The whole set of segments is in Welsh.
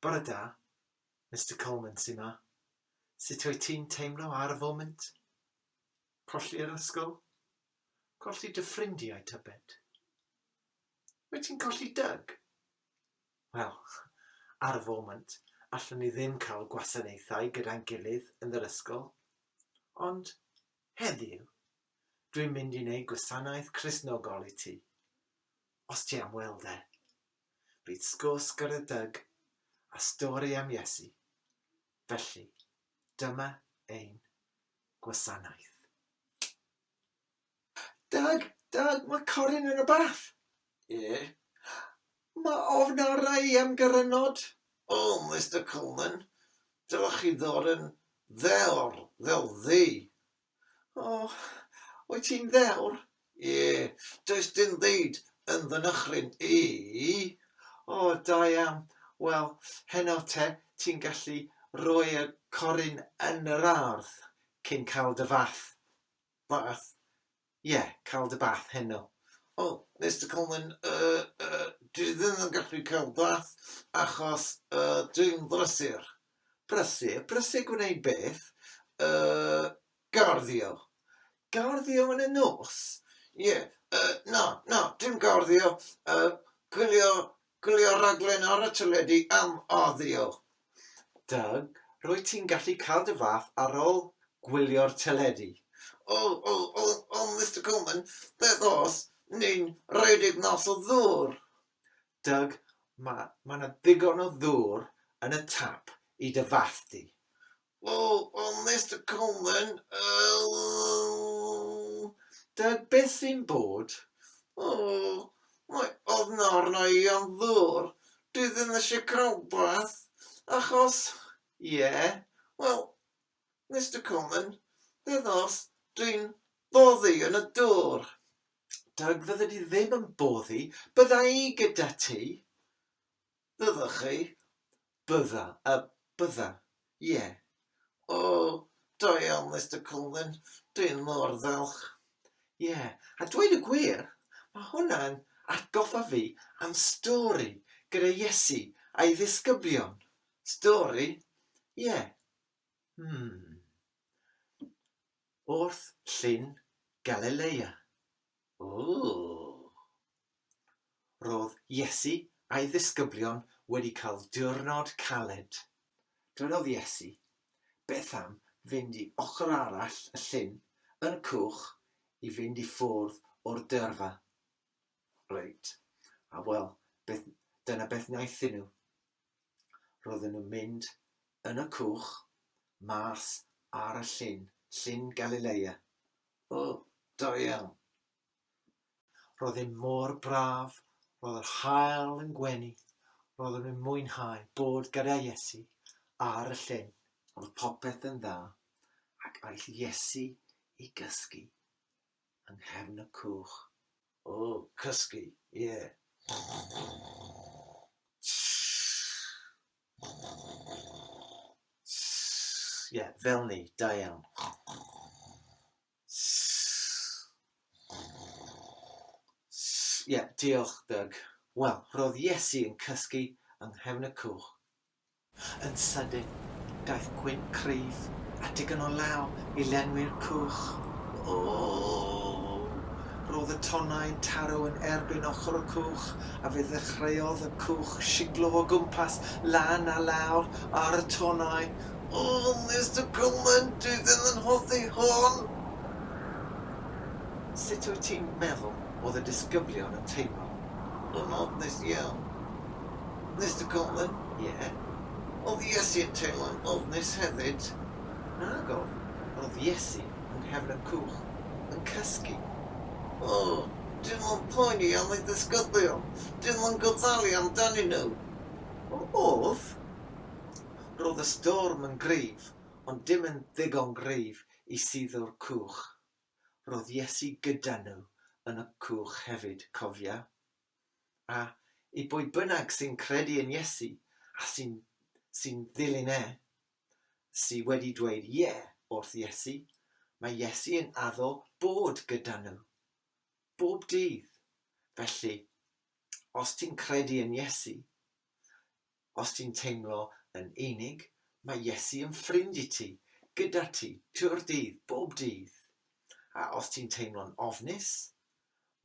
Bore da, Mister Coleman sy 'ma. Sut wyt ti'n teimlo ar y foment? Colli yr ysgol? Colli dy ffrindiau tybed? Wyt ti'n colli Dyg? Wel, ar y foment, allwn ni ddim cael gwasanaethau gyda'n gilydd yn yr ysgol. Ond, Heddiw, dwi'n mynd i wneud gwasanaeth Cristnogol i ti, os ti am weld e. Bydd sgwrs gyda Doug a stori am Iesu. Felly, dyma ein gwasanaeth. Doug, Doug, mae Corin yn y bath! Ie. Mae ofn arna i am garennod. O, Mister Coleman, dylech chi ddod yn ddewr fel fi. O, wyt ti'n ddewr? Ie, does dim byd yn fy nychryn i. O, da iawn. Wel, heno te, ti'n gallu rhoi y corun yn yr ardd cyn cael dy fath. Bath. Ie, cael dy bath heno. O, Mister Coleman, yy, yy, dwi ddim yn gallu cael bath achos, yy, dwi'n brysur. Brysur? Brysur gwneud beth? Yy, garddio. Garddio yn y nos? Ie, yy, na, na, dim garddio, yy, gwylio Gwylio'r rhaglen ar y teledu am oddio. Doug, rwyt ti'n gallu cael dy fath ar ôl gwylio'r teledu. O, o, o, o, Mister Coleman, beth os ni'n rhedeg mas o ddŵr? Doug, Mae 'na ddigon o ddŵr yn y tap i dy fath di. Wel, wel Mister Coleman, yy dw i byth yn bod. O, mae ofn arna i am ddŵr. Dwi ddim eisiau crowbeth, achos, ie, wel, Mister Coleman, beth os dwi'n boddi yn y dŵr? Dw, fyddi di ddim yn boddi, bydda i gyda ti. Byddwch chi? Bydda. Y bydda. Ie. O, da iawn, Mister Cullen. Dw i mor falch. Ie. A dweud y gwir, mae hwnna'n atgoffa fi am stori gyda Iesu a'i ddisgyblion. Stori? Ie. Hmm. Wrth Llyn Galilea. Ww! Roedd Iesu a'i ddisgyblion wedi cael diwrnod caled. Dywedodd Iesu, Beth am fynd i ochr arall y llyn yn y cwch i fynd i ffwrdd o'r dyrfa? Reit, a wel, beth, dyna beth wnaethon nhw. Roedden nhw'n mynd yn y cwch mas ar y llyn, Llyn Galileia. O, da iawn! Roedd e mor braf, roedd yr haul yn gwenu, roedden nhw'n mwynhau bod gyda Iesu ar y llyn. Roedd popeth yn dda, ac aeth Iesu i gysgu Yng nghefn y cwch. O! Cysgu! Ie! Ie! Fel 'ny! Da iawn! Ie! Diolch, Doug. Wel, roedd Iesu yn cysgu yng nghefn y cwch. Yn sydyn, daeth gwin cryf a digon o law i lenwi'r cwch. Ooww! Roedd y tonnau'n taro yn erbyn ochr y cwch, a fe ddechreuodd y cwch shiglo o gwmpas, lan a lawr, ar y tonnau. O, Mister Coleman, dwi ddim yn hoffi hon! Sut wyt ti'n meddwl oedd y disgyblion yn teimlo? Yn ofnus iawn. Mister Cullen, Ie. O'dd Iesu'n teimlo'n ofnus hefyd? Nago. O'dd Iesu yng nghefn y cwch yn cysgu. O, dim ond poeni am ei ddisgyblion, dim yn gofalu amdanyn nhw. O, o'dd. Ro'dd y storm yn gryf, ond dim yn ddigon gryf i suddo'r cwch. Ro'dd Iesu gyda nhw yn y cwch hefyd, cofia. A i bwy bynnag sy'n credu yn Iesu a sy'n sy'n ddilyn e, sy wedi dweud ie wrth Iesu, mae Iesu yn addo bod gyda nhw. Bob dydd. Felly, os ti'n credu yn Iesu, Os ti'n teimlo yn unig, mae Iesu yn ffrind i ti, gyda ti, trwy'r dydd, bob dydd. A os ti'n teimlo'n ofnus,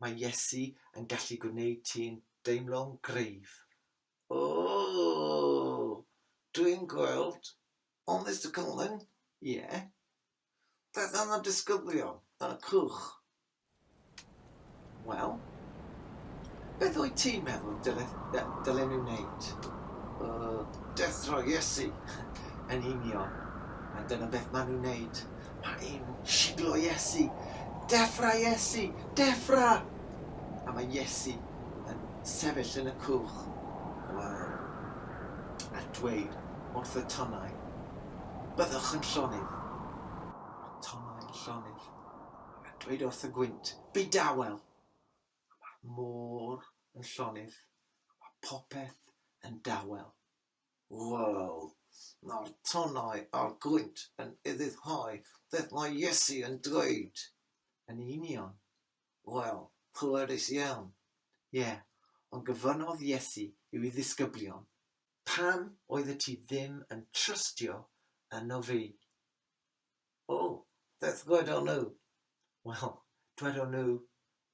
mae Iesu yn gallu gwneud ti'n deimlo'n gryf. Ooh! Dwi'n gweld, on Mister Colin? Ie? Daeth yna disgyblion yn y cwch. Wel, beth wyt ti'n meddwl dylen ni wneud? Uh, dethro Iesu yn union. A dyna beth maen nhw'n wneud. Mae un siglo Iesu. Defra Iesu! Defra! A mae Iesu yn sefyll yn y cwch. Wel, a dweud wrth y tonnau, Byddwch yn llonydd. Mae Tomel yn llonydd ac yn dweud wrth y gwynt, Byd dawel! A mae'r môr yn llonydd a mae popeth yn dawel. Wel, mae'r tonnau a'r gwynt yn ufuddhau beth mae Iesu yn dweud. Yn union. Wel, pwerus iawn. Ie, ond gofynnodd Iesu i'w ddisgyblion, Pam oeddet ti ddim yn trystio yno fi? O, beth ddwedon nhw? Wel, dwedon nhw,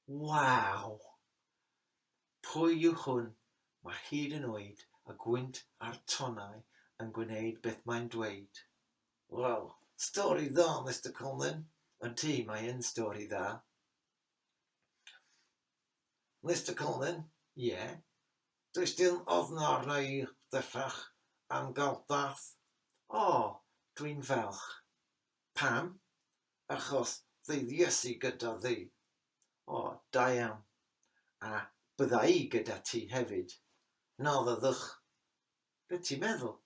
Waw! Pwy yw hwn? Mae hyd yn oed y gwynt a'r tonnau yn gwneud beth mae'n dweud. Wel, stori dda, Mister Conlon. Ydy, mae yn stori dda. Mister Cullen, Ie. Does dim ofn arna-i bellach am gael bath. O, dwi'n falch. Pam? Achos fydd Iesu gyda fi. O, da iawn. A bydda-i gyda ti hefyd. Na fyddwch. Be ti'n meddwl?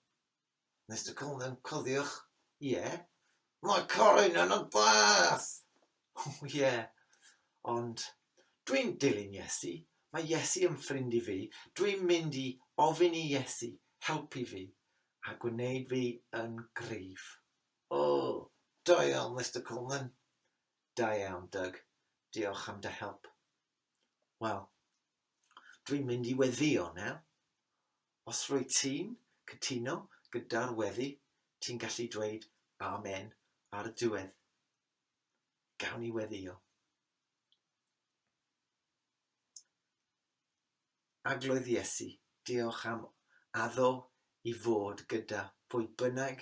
Mister Coleman, cofiwch, ie, mae Corin yn y bath! O, ie, ond dwi'n dilyn Iesu, mae Iesu yn ffrind i fi, dwi'n mynd i ofyn i Iesu helpu fi a gwneud fi yn gryf. O, da iawn, Mister Coleman. Da iawn, Doug. Diolch am dy help. Wel, dwi'n mynd i weddio nawr. Os rwyt ti'n cytuno gyda'r weddi, ti'n gallu dweud Amen ar y diwedd. Gawn ni weddio. Agloedd Iesu, diolch am addo i fod gyda pwy bynnag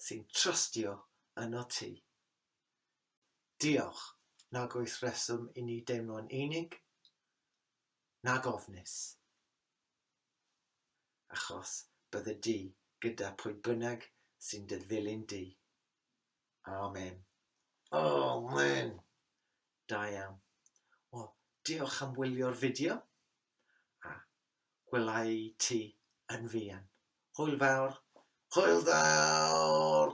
sy'n trystio yno ti. Diolch, nag oes reswm i ni deimlo'n unig, nag ofnus. achos bydde di gyda pwy bynnag sy'n dy ddilyn di. Amen. Amen! Da iawn. Wel, diolch am wylio'r fideo a gwelai ti yn fuan. Hwyl fawr! Hwyl fawr!